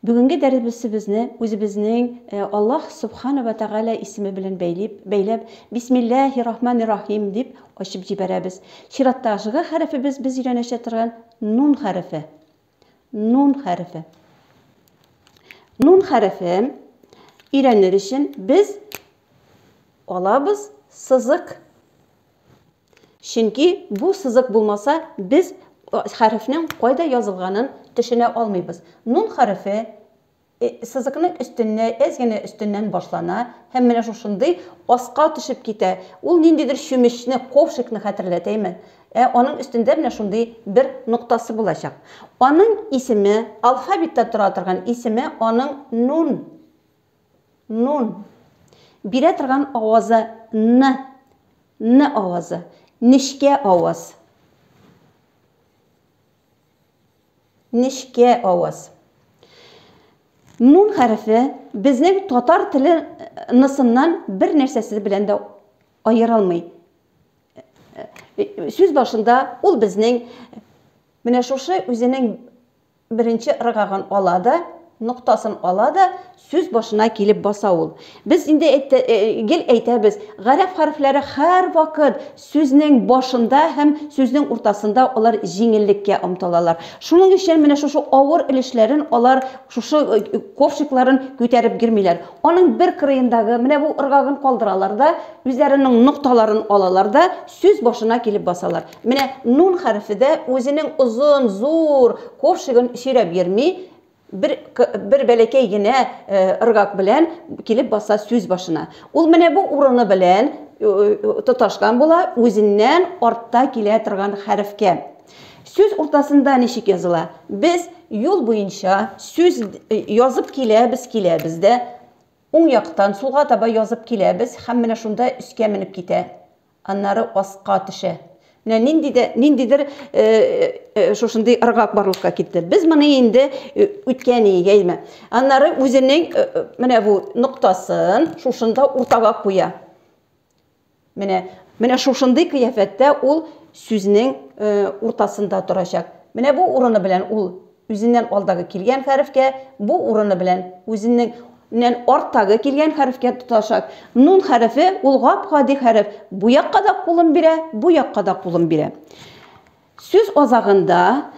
Бүгенге дәребесебезне үзебезнең Аллаһ Субхана вә Тәгалә исеме белән бәйлип, бәйләп, Бисмилләһи Рахмани Рахим дип ачып җибәрәбез. Чиратта жгы хәрефебез без өйрәнәшә торган нун хәрефе. Нун хәрефе. Нун хәрефе өйрәнер өчен без алабыз сызык. Чөнки бу сызык булмаса, без хәрефнең кайда язылганын төшенә алмыйбыз. Нун хәрефе э сызыкның өстеннә әз генә өстеннән башлана һәм менә шушындый аска төшеп китә. Ул ниндидер чүмечне, ковшикны хәтерләтәме? Ә аның өстендә менә шундый бер ноктасы булачак. Аның исеме, алфавиттә тора торган исеме аның нун Нун. Бирә торган авазы н. Н авазы. Нечкә аваз. Нечкә аваз. Нун хәрефе безнең татар теле нысыннан бер нәрсәсе белән дә аерылмый. Сүз башында ул безнең менә шушы үзенең Беренче ыргагын ала да, ноктасын ала да, сүз башына килеп баса ул. Без инде әйтте, гел әйтәбез, гарәп хәрефләре һәрвакыт сүзнең башында һәм сүзнең уртасында алар җиңеллеккә омтылалар. Шуның өчен менә шушы авыр өлешләрен алар, шушы ковшикларын күтәреп йөрмиләр. Аның бер кырыендагы менә бу ыргагын калдыралар да, үзләренең нокталарын алалар да, сүз башына килеп басалар. Менә нун хәрефе дә үзенең озын, зур ковшигын сөйрәп йөрми, бер, бер бәләкәй генә э, ыргак белән килеп баса сүз башына. Ул менә бу урыны белән тоташкан була үзеннән артта килә торган хәрефкә. Сүз уртасында ничек языла? Без юл буенча сүз э, язып киләбез, киләбез дә, уң яктан сулга таба язып киләбез һәм менә шунда өскә менеп китә. Аннары аска төшә. Менә нинди дә ниндидер э, э, э, шушындый ыргак барлыкка китте. Без моны инде үткән егәйме. Аннары үзенең менә бу ноктасын шушында уртага куя. Менә менә шушындый кыяфәттә ул сүзнең уртасында торачак. Менә бу урыны белән ул Үзеннән алдагы килгән хәрефкә бу урыны белән үзеннең. Ннән арттагы килгән хәрефкә тоташак. Нун хәрефе, ул гап-гади хәреф. Бу якка да кулын бирә, бу якка да кулын бирә. Сүз азагында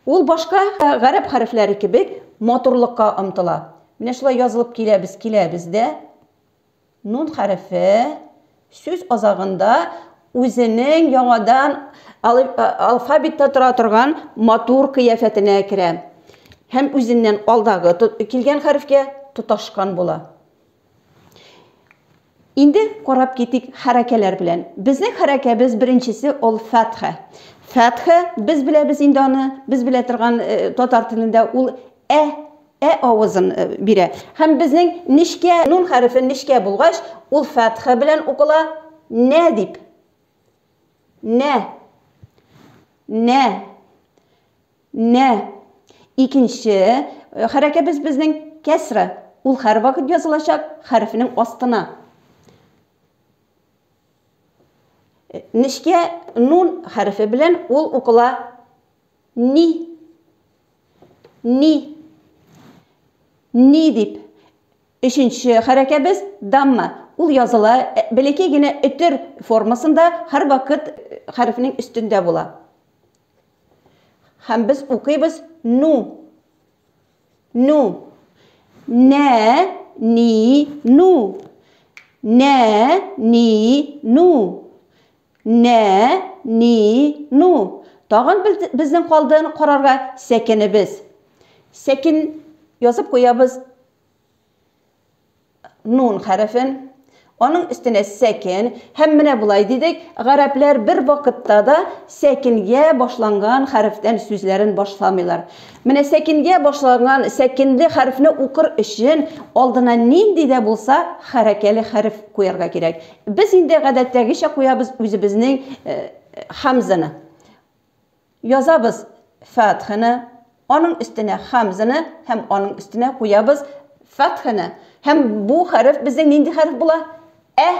ул башка гарәп хәрефләре кебек матурлыкка омтыла. Менә шулай язылып киләбез, киләбез дә. Нун хәрефе сүз азагында үзенең яңадан алфавитта тора торган матур кыяфәтенә керә һәм үзеннән алдагы килгән хәрефкә тоташкан була. Инде карап китик хәрәкәләр белән. Безнең хәрәкәбез беренчесе ул фәтха. Фәтха без беләбез инде аны, без белә торган э, татар телендә ул ә Ә авызын бирә. Һәм безнең нечкә нун хәрефе нечкә булгач, ул фәтха белән укыла, нә дип. Нә. Нә. Нә. Икенче хәрәкәбез безнең кәсра. Ул һәрвакыт язылачак хәрефенең астына. Нечкә нун хәрефе белән ул укыла ни. Ни. Ни дип. Өченче хәрәкәбез дамма. Ул языла э, бәләкәй генә өтер формасында һәрвакыт э, хәрефнең өстендә була. Һәм без укыйбыз ну. Ну. Нә, ни, ну. Нә, ни, ну. Нә, ни, ну, тагын безнең калдыны карарга сәкенебез. Сәкен язып куябыз нун хәрефен. Аның өстенә сәкен һәм менә болай дидек, гарәпләр бер вакытта да сәкенгә башланган хәрефтән сүзләрен башламыйлар. Менә сәкенгә башланган сәкенле хәрефне укыр өчен алдына нинди дә булса хәрәкәле хәреф куярга кирәк. Без инде гадәттәгечә куябыз үзебезнең Хәмзәне. Язабыз фәтхене, аның өстенә хәмзене һәм аның өстенә куябыз фәтхене. Һәм бу хәреф безнең нинди хәреф була? Ә.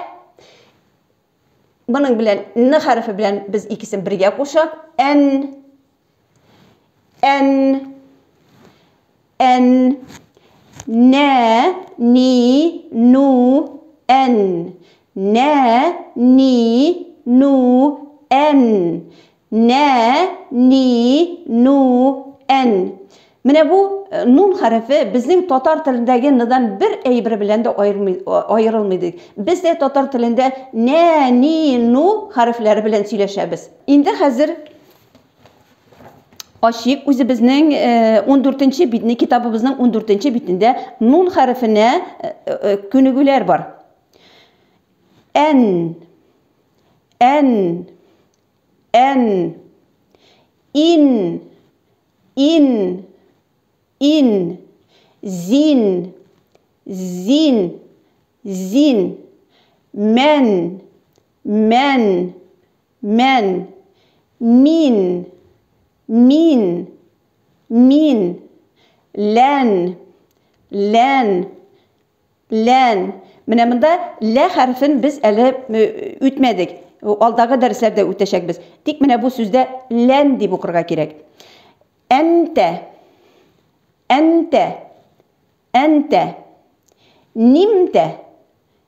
Моның белән н хәрефе белән без икесен бергә кушак, ән. эн эн нэ ни ну эн нэ ни ну эн нэ ни ну эн Менә бу э, нун хәрефе безнең татар телендәге ныдан бер әйбер белән дә аерылмый ди. Без дә татар телендә нә, ни, ну хәрефләре белән сөйләшәбез. Инде хәзер Ачык үзебезнең 14-нче битне, китабыбызның 14-нче битендә нун хәрефенә күнегүләр бар. Ән, ән, ән, ин, ин, ин, зин, зин, зин, мән, мән, Мән. Мин. Мин. Мин. Лән. Лән. Лән. Менә монда лә хәрефен без әле үтмәдек. Алдагы дәресләрдә үтәчәкбез. Тик менә бу сүздә лән дип укырга кирәк. Әнтә. Әнтә. Әнтә. Нимтә.